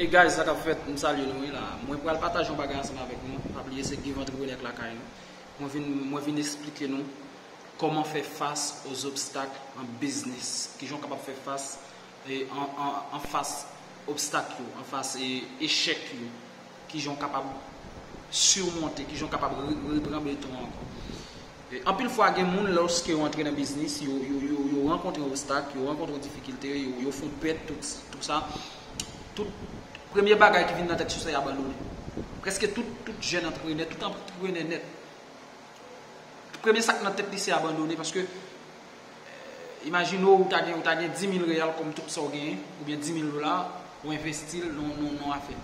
Hey guys sa kap fèt m salye nou wi la mwen pral pataje yon bagay ansanm avèk nou pa bliye se Give Entrepreneur k lakay nou mwen vin mwen vin esplike nou kòman fè fas aux obstacles en business kijan w kapab fè fas anfas obstak yo anfas echèk yo Kijan w kapab surmonte, kijan w kapab repran beton an ankò. Anpil fwa gen moun lòske yo antre nan biznis, yo rankontre obstak, yo rankontre difikilte, yo fon pèt, tout sa, tout premye bagay ki vin nan tèt yo se abandone. Prèske tout jèn antreprenè, tout antreprenè nèt, premye sa k nan tèt li se abandone paske, Imajine w ou ta gen ou ta gen 10.000 reyal kòm tout sa w genyen oubyen 10.000 dola ou envesti l nan afè.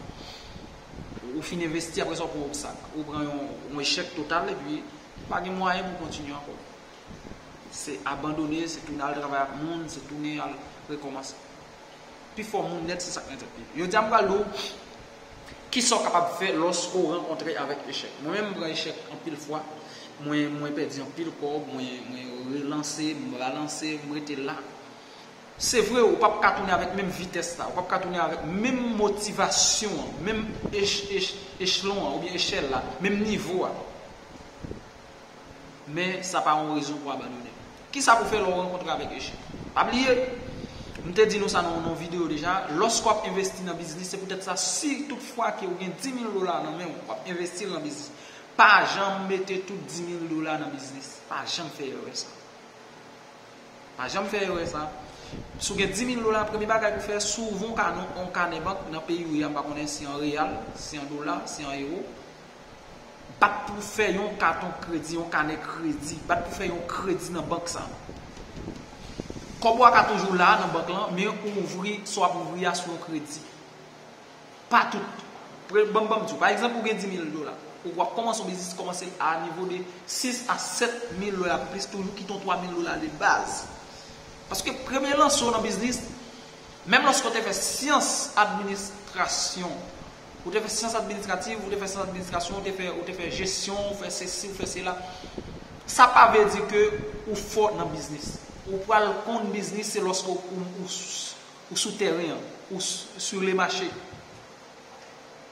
Ou fin envesti aprè sa ou pran obstak. Ou pran yon echèk total epi ou pa gen mwayen pou kontinye ankò. Se abandone, se tounen al travay ak moun, se tounen al rekòmanse. Pifò moun nèt se sa k nan tèt li. Jodi a m pral di w Kisa w kapab fè lòske w rankontre avèk echèk? Mwen menm m pran echèk anpil fwa, mwen pèdi anpil kòb, mwen relanse, m ralanse, m rete la. Se vre ou pap ka tounen avèk menm vitès la, ou pap ka tounen avèk menm motivasyon an, menm echlon an oubyen echèl la, menm nivo a. men sa pa yon rezon pou abandone. Kisa pou fè lè w rankontre avèk echèk? Pa bliye, m te di nou sa nan yon videyo deja, lòske w ap envesti nan biznis, se poutèt sa si tout fwa ke ou gen 10.000 dola nan men w, w ap envesti l nan biznis, pa janm mete tout 10.000 dola nan biznis. Pa janm fè erè sa. Pa janm fè erè sa. Si w gen 10.000 dola, premye bagay pou w fè, si w ouvè yon kanè bank nan peyi ou ye a, m pa konnen si an reyal, si an dola, si an ewo, Bat pou w fè yon katon kredi, yon kanè kredi. Bat pou w fè yon kredi nan bank sa. Kòb ou a ka toujou la nan bank lan, men ou ouvri, sa w ap ouvri a sou yon kredi. Pa tout. Pre, ban m ban m di w. Pa egzanp, ou gen 10 mil dola. Ou ap kòmanse yon biznis, kòmanse a nivo de 6 a 7 mil dola plis toujou kite yon 3 mil dola de baz. Paske premye lanse w nan biznis, menm lòske w te fè syans administrasyon, Ou te fè syans administrativ, ou te fè syans administrasyon, ou te fè ou te fè jesyon, ou fè sesi, ou fè sela. Sa pa vle di ke ou fò nan biznis. Ou pral konn biznis se lòske ou ou ou ou sou tèren an, ou sur le mache.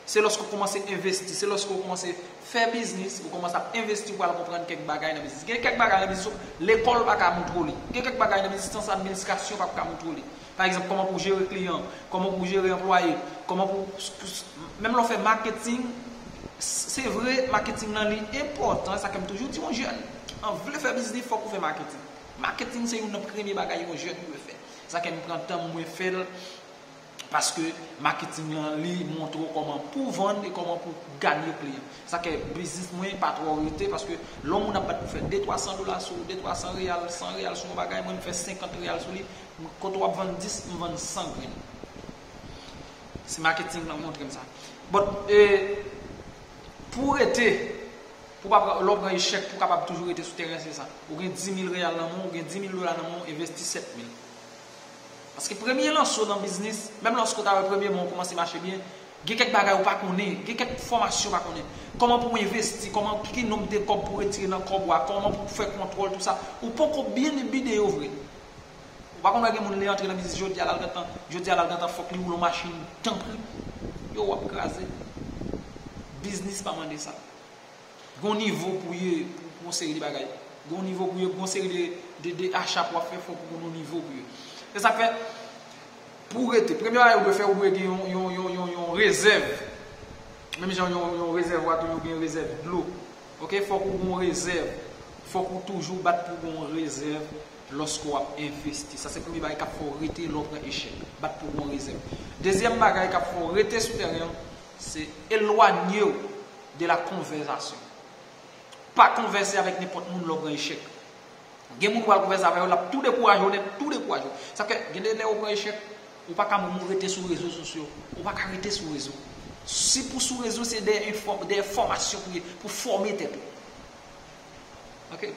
Se lòske ou kòmanse envesti, se lòske ou kòmanse fè biznis, ou kòmanse ap envesti ou pral konprann kèk bagay nan biznis. Gen kèk bagay nan biznis ou lekòl pa ka moutre w li. Gen kèk bagay nan biznis syans administrasyon pap ka moutre w li. Pa egzanp, kòman pou w jere kliyan, kòman pou w jere anplwaye, kòman pou w, menm lè w fè maketing, se vre maketing lan li enpòtan, e sa kè m toujou di yon jèn ki an vle fè biznis fòk ou fè maketing. Maketing se youn nan premye bagay yon jèn dwe fè. E sa kè m pran tan m mwen fè l paske maketing lan li montre w kòman pou w vann e kòman pou w ganye kliyan. E sa kè biznis mwen pa twò rete paske lè yon moun ap bat pou fè de twa san dola sou ou, de twa san reyal, san reyal sou yon bagay, mwen m fè senkant reyal sou li, Kote wap vann 10 m vann 100 grenn. Se marketing lan montrem sa. But pou w rete pou pa lè w pran echèk pou w kapab toujou rete sou tèren se sa. Ou gen 10000 real nan men w, ou gen 10000 dola nan men w envesti 7000. Paske premye lanse w nan biznis, menm lòske w ta wè premye mwa w kòmanse mache byen, gen kèk bagay ou pa konnen, gen kèk fòmasyon ou pa konnen. Kòman pou w envesti, kòman ki ki nonb de kòb pou w retire nan kòb ou a, kòman pou w fè kontwòl tou sa. Ou poko byen bide yo vre. Ou pa konn wè gen moun li antre nan biznis jodia lal gentan jodia lal gentan fòk li woulon machin tanpri yo wap kraze biznis pa mande sa gon nivo pou ye pou pou yon seri de bagay gon nivo pou ye pou yon seri de de acha pou wap fè fòk ou gon nivo pou ye se sak fè pou ou rete premye bagay ou dwe fè ou dwe gen yon yon yon yon yon rezèv menm jan yon yon rezèvwa tou yo gen rezèv dlo ok fòk ou gon rezèv fòk ou toujou bat pou gon rezèv Lòske w ap envesti, sa se premye bagay k ap fè w rete lè w pran echèk. Bat pou bon rezèv. Dezyèm bagay k ap fè w rete sou tèren an, se elwanye w de la konvèzasyon. Pa konvèse avèk nenpòt moun lè w pran echèk. Gen moun ou pral konvèse avè yo, l ap tou dekouraje w nèt, tou dekouraje w. Sa fè, gen de lè ou pran echèk, ou pa ka menm rete sou rezo sosyo. Ou pa ka rete sou rezo. Si pou sou rezo, se dèyè enfò, dèyè fòmasyon pou ye, pou fòme tèt ou.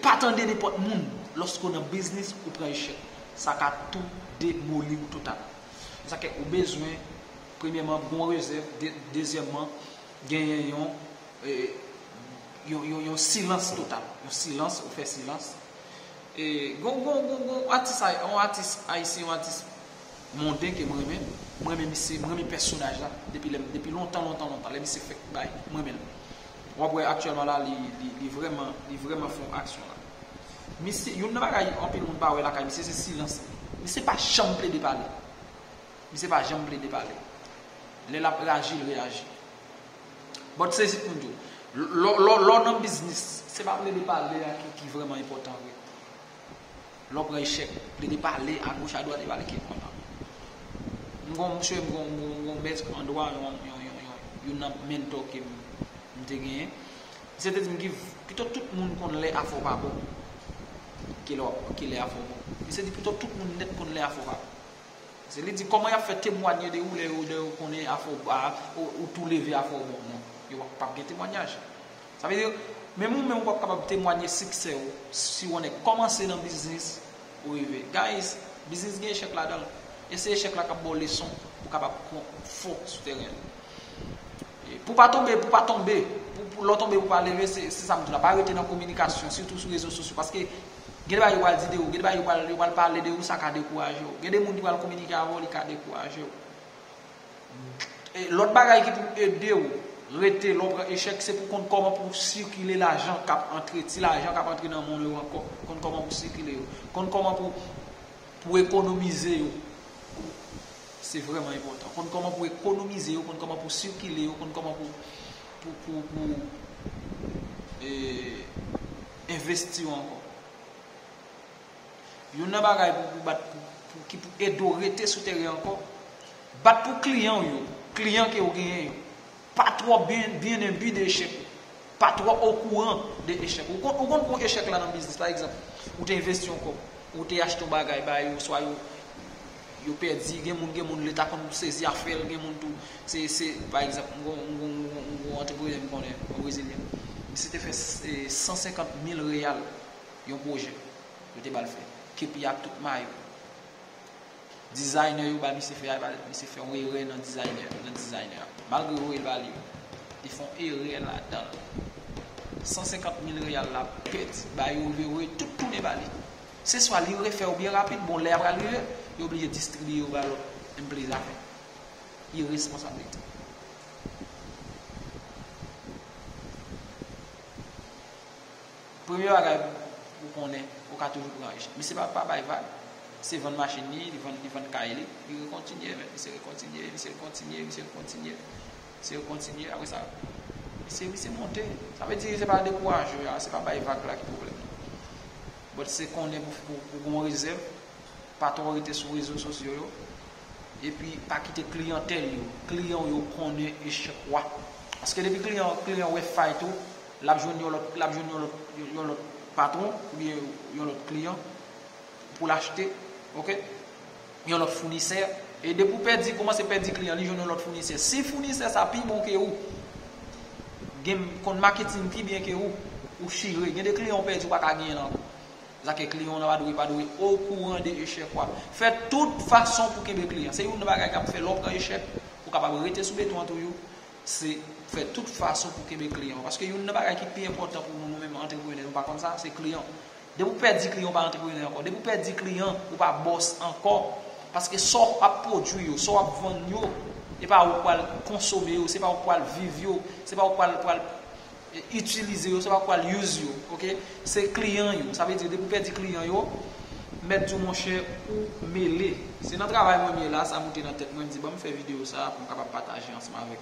Pa tande nenpòt moun lòske w nan biznis ou pran echèk. Sa ka tou demoli w total. Sa fè ou bezwen premyèman bon rezèv, dezyèman genyen yon yon silans total. Yon silans, ou fè silans. Gon gon gon gon atis ayisyen, yon atis monden ke m renmen. M renmen misye, m renmen pèsonaj la depi lèm, depi lontan lontan lontan lè misye fèk bay. M renmen l. Wap wè aktyèlman la li vrèman li vrèman fon aksyon la. Misye youn nan bagay anpil moun pa wè lakay misye se silans li. Misye pa janm plede pale. Misye pa janm plede pale. Lè lap reyaji l reyaji. Bon sezi pou nou. Lè w nan biznis se pa plede pale a ki vrèman enpòtan vre. Lè w pran echèk, plede pale a goch a dwat e pale kèk manman. M gon msye, m gon mèt an dwa, youn nan mentor ke m te genyen. Msye te di m Giv, pito tout moun konn lè afè w pa bon, ke lè ke lè afè w bon. Msye di pito tout moun nèt konn lè afè w pa bon. Pase li di kòman y ap fè temwanye de ou lè yo konnen afè w, ou tou leve afè w bon. Non, yo pap gen temwanyaj. Sa vle di, menm ou menm ou pap kapab temwanye siksè ou si ou nèk kòmanse nan biznis ou rive. Guys, biznis gen echèk ladanl e se echèk la kap baw leson pou kapab fò sou tèren an. Pou pa tonbe pou pa tonbe, pou lè w tonbe pou pa leve se sa m di w la, pa rete nan kominikasyon sitou sou rezo sosyo paske gen de bagay yo pral di de ou, gen de bagay yo pral pale de ou sa ka dekouraje w. Gen de moun ki pral kominike avè w li ka dekouraje w. Lòt bagay ki pou ede w rete lè w pran echèk se pou konn kòman pou w sikile lajan k ap antre, ti lajan k ap antre nan men w yo ankò, konn kòman pou w sikile yo, konn kòman pou w ekonomize yo, se vrèman enpòtan, konn kòman pou w ekonomize yo, konn kòman pou w sikile yo, konn kòman pou w envesti yo ankò. Youn nan bagay pou pou bat pou ki pou ede w rete sou teren ankò, bat pou kliyan w yo, kliyan ke w genyen yo, pa twò byen enbi de echèk ou, pa twò okouran de echèk ou. Ou konn pou echèk la nan biznis, pa egzanp, ou te envesti yon kòb, ou te achte yon bagay ba yo, swa yo yo pèdi, gen moun gen moun leta konn sezi afè l, gen moun tou se se pa egzanp, m gon m gon antreprene m konnen, yon brezilyen, misye te fè 150 mil reyal. Yon pwojè yo te ba l fè. Kepi a ak tout mayo. Dizaynè yo bay misye fè a, misye fè yon erè nan dizaynè a. Malgre yo voye l ba li yo. Li fè yon erè ladan l. 150 mil reyal la pèdi. Ba yo li, yo voye l tout tounen ba li. Se swa li refè yo byen rapid, bon lè a pral rive, yo oblije distribiye yo ba lòt enplwaye zafè. Iresponsablite. Premye bagay pou konnen ou ka toujou pran richi. Misye pa bay vag. Se vann machin li, li vann kay li. Li rekontinye men. Misye rekontinye, misye rekontinye, misye rekontinye. Misye rekontinye. Apre sa, misye, misye monte. Sa vle di se pa dekouraje a, se pa bay vag la ki pwoblèm nan. Bòt se konnen pou ou gon rezèv, pa twò rete sou rezo sosyo yo. E pi pa kite kliyantèl yo, kliyan ou yo konnen echèk ou a. Paske depi kliyan, kliyan wè fay tou. Lap jwenn yon lòt lap jwenn yon lòt yon lòt patwon oubyen yon lòt kliyan poul achte ok yon lòt founisè e depi ou pèdi kòmanse pèdi kliyan li jwenn yon lòt founisè si founisè sa pi bon ke ou gen konn maketing pi byen ke ou ou chire gen de kliyan ou pèdi ou paka genyen l ankò zake kliyan w nan pa dwe pa dwe okouran de echèk wap fè tout fason pou kenbe kliyan se youn nan bagay kap fè lè w pran echèk ou kapab rete sou beton an toujou se fè tout fason pou kenbe kliyan ou. Paske youn nan bagay ki pi enpòtan pou nou nou menm antreprenè, nou pa konn sa, se kliyan ou. Depi ou pèdi kliyan, ou pa antreprenè ankò. Depi ou pèdi kliyan, ou pa bòs ankò. Paske sa w ap pwodui yo, sa w ap vann yo, e pa ou k pral konsome yo, se pa ou k pral viv yo, se pa ou k pral. Itilize yo se pa pou al use yo ok se kliyan yo sa vle di depi ou pèdi kliyan yo mèt di w monchè ou mele se nan travay mwen m ye la sa moute nan tèt mwen m di banm fè videyo sa pou m kapab pataje ansanm avèk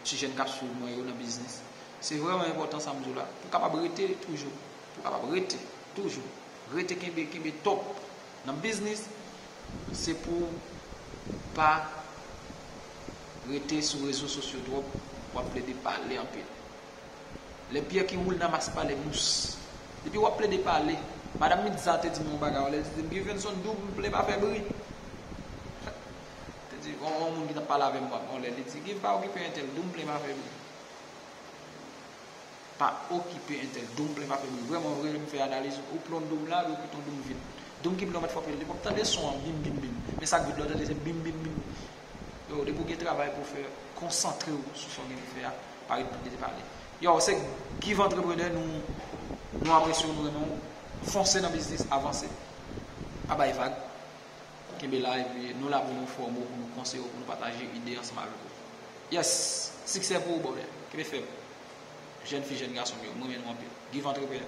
ti jèn k ap swiv mwen yo nan biznis se vrèman enpòtan sa m di w la pou w kapab rete toujou pou w kapab rete toujou rete kenbe kenbe top. Nan biznis, se pou w pa rete sou rezo sosyo twòp, w ap plede pale anpil. Lè pyè ki woule nan mas pale mous. Depi w ap plede pale, Madam Midza te di m yon bagay yon lè, li te di m, Guivenson double pa fè bri. Te di, yon moun ki t ap pale avè m yon lè, li di, Guiv pa okipe entèl, double pa fè bri. Pa okipe entèl. Doum plen pa fè bri. Vrèman vre lè m fè analiz ou plon doum la epi ton doum vid. Doum ki plen w mèt fòk li pap tande son an bim bim bim. Men sak vid la w tande se bim bim bim. Yow depi w gen travay pou w fè konsantre w sou sa w gen pou w fè a pa ret pale pale. Yow se Give Entrepreneur nou apresye w nou renmen w fonse nan biznis avanse pa bay vag. Kenbe la epi nou la pou nou fòme w, pou nou konseye w, pou nou pataje ide ansanm avèk ou. Yes! Siksè pou ou brother! Kenbe fèm. Jèn fi, jèn gason m yo, m renmen nou anpil. Give Entrepreneur!